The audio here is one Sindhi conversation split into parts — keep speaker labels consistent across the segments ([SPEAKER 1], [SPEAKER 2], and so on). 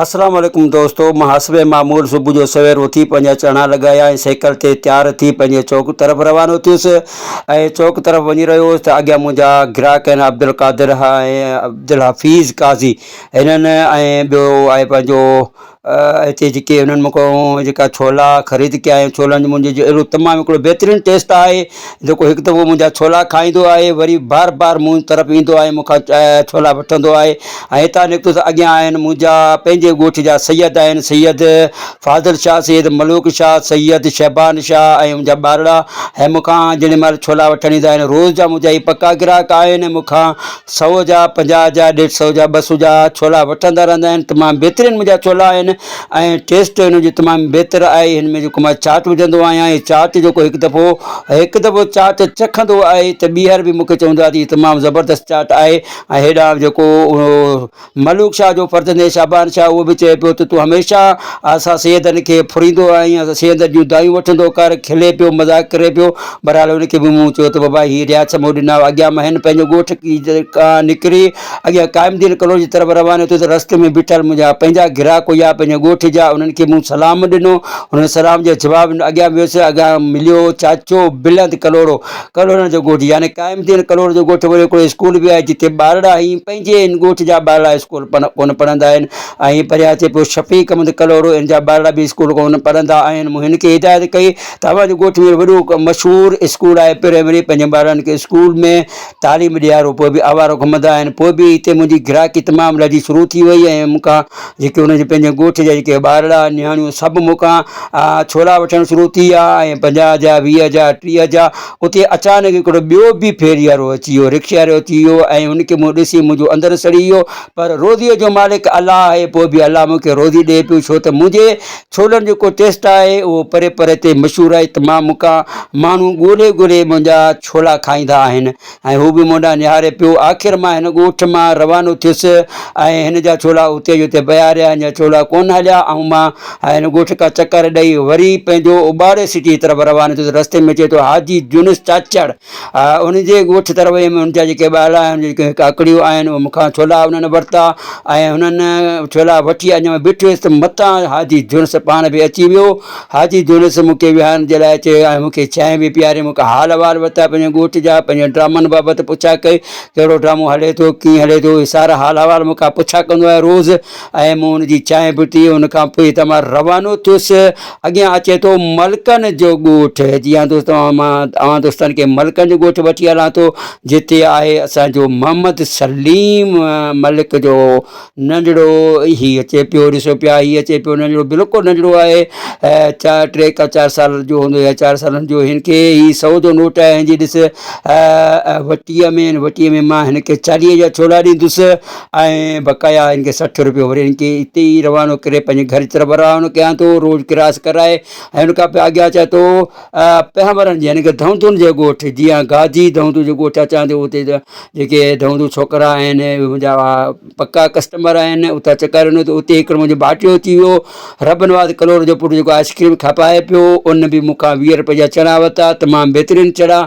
[SPEAKER 1] السلام عليڪم دوستو محاسبي معمول صبح جو سوير اٿي پنهنجا چڻا لڳايا ۽ سيڪل تي تيار ٿي پنهنجي چوڪ طرف روانو ٿيس ۽ چوڪ طرف وڃي رهيو هوس ته اڳيان منهنجا گراهڪ آهن عبدالقادر ها ۽ عبدالحفيظ قاضي هنن ۽ ٻيو آهي پنهنجو هتي جيڪي هنن مون کان جيڪا ڇولا خريد ڪيا آهن ڇولن جي منهنجي جو اهڙو تمام هڪڙو بهترين ٽيسٽ آهي جيڪو هڪ دفعو منهنجا ڇولا کائيندو آهي، وري بار بار مون طرف ايندو آهي، مون کان ڇولا وٺندو آهي ۽ هتان نڪتو ته اڳيان آهن منهنجا پنهنجي ڳوٺ جا سيد آهن، سيد فاضل شاهه، سيد ملوڪ شاهه، سيد شعبان شاهه ۽ انهن جا ٻارڙا هي مون کان جيڏي مهل ڇولا وٺڻ ايندا آهن، روز جا منهنجا هي پڪا گراهڪ آهن ۽ مون کان سؤ جا پنجاهه جا ڏيڍ سؤ جا ٻه سؤ جا ڇولا وٺندا رهندا آهن تمام بهترين منهنجا ڇولا آهن ۽ ٽيسٽ هن جو تمام بهتر آهي هن ۾ جيڪو مان چاٽ وجهندو آهيان هي چاٽ جيڪو هڪ دفعو هڪ دفعو چاٽ چکندو آهي ته ٻيهر به مونکي چوندو آهي ته هي تمام زبردست چاٽ آهي ۽ هيڏانهن جيڪو ملوڪ شاهه جو فرزند شعبان شاهه اهو به چئي پيو ته تون هميشه اسان سيدن کي ڦريندو آهين، اسان سيدن جون دانهيون وٺندو ڪر، کلي پيو، مذاق ڪري پيو. بهرحال ان کي به مون چيو ته بابا هي رياض مون ڏنا هئا، اڳيان مهين پنهنجو ڳوٺ کان نڪري اڳيان قائم الدين ڪلوئي جي طرف روانو ٿيو ته رستي ۾ بيٺل منهنجا پنهنجا گراهڪ هيا پنهنجي ڳوٺ جا، انهن کي مون سلام ڏنو، انهن سلام جي جواب ۾ اڳيان ويس، اڳيان مليو چاچو بلند ڪلهوڙو، ڪلهوڙن جو ڳوٺ يعني قائم ٿيل ڪلهوڙ جو ڳوٺ ويڙهو هڪڙو اسڪول به آهي جتي ٻارڙا ۽ پنهنجي ان ڳوٺ جا ٻارڙا اسڪول ڪونه پڙهندا آهن ۽ پريان اچي پيو شفيق احمد ڪلهوڙو ان جا ٻارڙا به اسڪول ڪونه پڙهندا آهن مون هن کي هدايت ڪئي ته اوهان جي ڳوٺ ۾ وڏو مشهور اسڪول آهي پرائمري پنهنجي ٻارڙن کي اسڪول ۾ تعليم ڏيارو پوء به آوارو گهمندا آهن پوء به هتي منهنجي گراهڪي تمام لڌي شروع ٿي وئي ۽ مون کان جيڪي ان جي پنهنجي ڳوٺ جا جيڪي ٻارڙا نياڻيون سڀ مون کان ڇورا وٺڻ شروع ٿي ويا ۽ پنجاهه جا ويهه جا ٽيهه جا اتي اچانڪ هڪڙو ٻيو به ڦيري وارو اچي ويو رڪشي وارو اچي ويو ۽ ان کي مون ڏسي منهنجو اندر سڙي ويو پر روزيء جو مالڪ الله آهي پوء به الله مون کي روزي ڏئي پيو ڇو ته منهنجي ڇولن جو ڪو ٽيسٽ آهي اهو پري پري تي مشهور آهي ته مان مون کان ماڻهو ڳولهي ڳولهي منهنجا ڇولا کائيندا آهن ۽ هو به مون ڏانهن نهاري پيو. آخر مان هن ڳوٺ مان روانو ٿيس ۽ هن جا ڇولا اتي جو اتي پيا رهيا، هن جا ڇولا ڪونه هليا ۽ مان هن ڳوٺ ڪا چڪر ڏئي وري پنهنجو اٻاڙي سٽي جي طرف روانو ٿيس. رستي ۾ اچي ٿو حاجي جنس چاچڙ ان جي ڳوٺ طرف ويم، ان جا جيڪي ٻارڙا آهن، ان جون جيڪي ڪاڪڙيون آهن، اهي مون کان ڇولا انهن ورتا ۽ انهن ڇولا وٺي اڃا مان بيٺو هيس ته متان حاجي جنس پاڻ به اچي ويو. حاجي جونس مون کي ويهارڻ جي لاء چيو ۽ مون کي چانهه به پياري، مون کان حال احوال ورتا، پنهنجي ڳوٺ جا، پنهنجي ڊرامن بابت پڇا ڪئي، ڪهڙو ڊرامو هلي ٿو، ڪيئن هلي ٿو، اهي سارا حال احوال مون کان پڇا ڪندو آهي روز ۽ مون ان جي چانهه به پي، ان کان پوء هتان مان روانو ٿيس. اڳيان اچي ٿو ملڪن جو ڳوٺ، جي ها دوستو مان اوهان دوستن کي ملڪن جو ڳوٺ وٺي هلان ٿو، جتي آهي اسان جو محمد سليم ملڪ جو ننڍڙو هي اچي پيو ڏسو پيا هي اچي پيو ننڍڙو بلڪل ننڍڙو آهي چار ٽي کا چار سال جو هوندو يا چار سالن جو هن کي هي سو جو نوٽ آهي جي ڏس وٽيء ۾ وٽيء ۾ مان هن کي چاليهه جا ڇولا ڏيندس ۽ بقايا هن کي سٺ روپيو وري هن کي اتي ئي روانو ڪري پنهنجي گهر جي طرف روانو ڪيان ٿو روڊ ڪراس ڪرائي ۽ هن کان پوء اڳيان چا ٿو پهاورن جي يعني ڪه ڌونڌن جي ڳوٺ جيان گاجي ڌونڌ جو ڳوٺ اچان ٿيو اتي جيڪي ڌونڌ ڇوڪرا آهن منهنجا پڪا ڪسٽمر آهن اتان چڪر هنيو ته اتي هڪڙو منهنجو ڀاٽيو اچي ويو رب نواز ڪلور جو پٽ جيڪو آئسڪريم کپائي پيو ان به مون کان ويهه روپيه جا چڻا ورتا تمام بهترين چڻا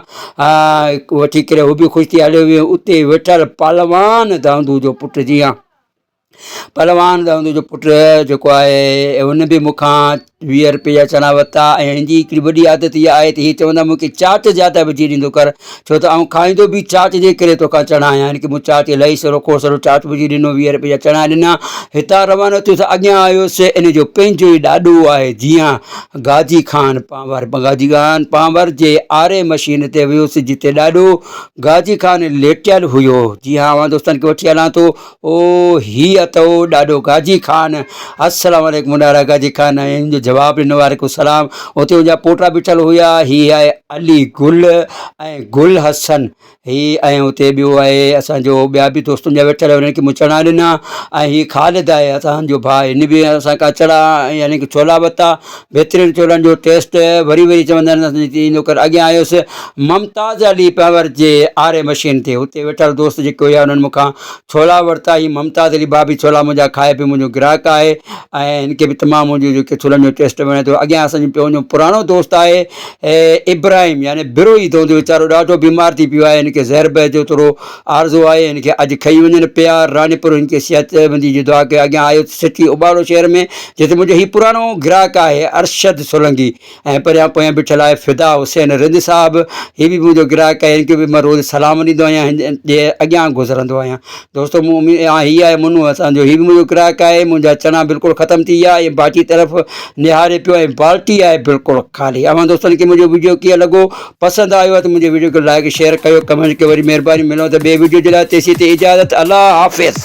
[SPEAKER 1] وٺي ڪري هو به خوش ٿي هليو ويو اتي ويٺل پلوان ڌونڌ جو پٽ جيان پهلوان دائود جو پٽ جيڪو آهي هن به مون کان ويهه رپئي جا چڻا ورتا ۽ هن جي هڪڙي وڏي عادت اها آهي ته هي چوندو آهي مون کي چاچ زياده وجهي ڏيندو ڪر ڇو ته آئون کائيندو به چاچ جي ڪري تو کان چڻا آهيان هن کي مون چاچ الائي سرو کوڙ سرو چاچ وجهي ڏنو ويهه رپئي جا چڻا ڏنا هتان روانو ٿيس اڳيان آيس ان جو پنهنجو ئي ڏاڏو آهي جيان غازي خان پانور غازي خان پانور جي آري مشين تي ويس جتي ڏاڏو غازي خان ليٽيل هيو جيان اوهان دوستن کي وٺي هلان ٿو او هي اٿئو ڏاڏو گاجي خان. السلام عليڪم ڏاڏا گاجي خان هن جو جواب ڏنو وعليڪم السلام اتي ان جا پوٽا بيٺل هيا هي آهي علي گل ۽ گل حسن هي ۽ اتي ٻيو آهي اسان جو ٻيا به دوست ان جا ويٺل هيا انهن کي مون چڻا ڏنا ۽ هي خالد آهي اسان جو ڀاء هن به اسان کان چڻا يعني ڪي ڇولا ورتا بهترين ڇولن جو ٽيسٽ وري وري چوندا آهن اسان جي ان ڪري اڳيان آيس ممتاز علي پنهور جي آري مشين تي اتي ويٺل دوست جيڪي هيا انهن مون کان ڇولا ورتا هي ممتاز علي بابي ڇولا منهنجا کائي پيو منهنجو گراهڪ آهي ۽ هن کي به تمام منهنجو جيڪي ڇولن جو ٽيسٽ وڻي ٿو اڳيان اسان جو پنهنجو پراڻو دوست آهي ابراهيم يعني بروهي دونديو ويچارو ڏاڍو بيمار ٿي پيو آهي هن کي زهر بهر جو ٿورو آرزو آهي هن کي اڄ کئي وڃن پيار راڻيپور هن کي صحت بندي جي دعا ڪيو اڳيان آيو سٽي اباڙو شهر ۾ جتي منهنجو هي پراڻو گراهڪ آهي ارشد سولنگي ۽ پريان پويان بيٺل آهي فدا حسين رند صاحب هي به منهنجو گراهڪ آهي هن کي به مان روز سلام ڏيندو آهيان هن جي اڳيان گذرندو آهيان دوستو مون اميد ها هي آهي منو اسان جو هي به منهنجو گراهڪ آهي منهنجا چڻا بلڪل ختم ٿي ويا ۽ باٽي طرف نهاري پيو ۽ بالٽي آهي بلڪل خالي اوهان دوستن کي منهنجو ويڊيو ڪيئن لڳو پسند آيو آهي ته منهنجي ويڊيو کي لائڪ شيئر ڪيو ڪمينٽ ڪيو وري مهرباني ملون ته ٻي ويڊيو جي لاء تيسين تي اجازت الله حافظ.